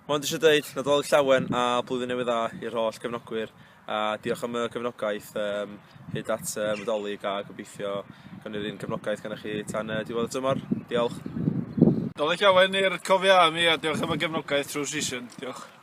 Mae'n eisiau dweud Nadolig Llawen a Blwyddyn Newydd Dda i'r holl gefnogwyr a diolch am y gefnogaeth um, hyd at uh, Nadolig a gobeithio gan yr un gefnogaeth gan chi tan uh, diwedd y tymor. Diolch. Nadolig Llawen i'r cofiau am i a diolch am y gefnogaeth trwy season. Diolch.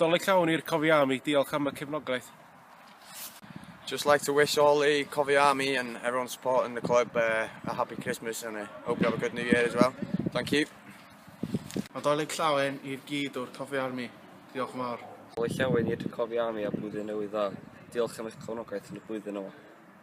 Dolig llawn i'r Cofi Army, diolch am y cefnogaeth. Just like to wish all the Cofi Army and everyone supporting the club uh, a happy Christmas and I hope you have a good new year as well. Thank you. A dolig llawen i'r gyd o'r Cofi Army, diolch yn fawr. Dolig llawen i'r Cofi Army a blwyddyn newydd dda. Diolch am eich cefnogaeth yn y blwyddyn yma.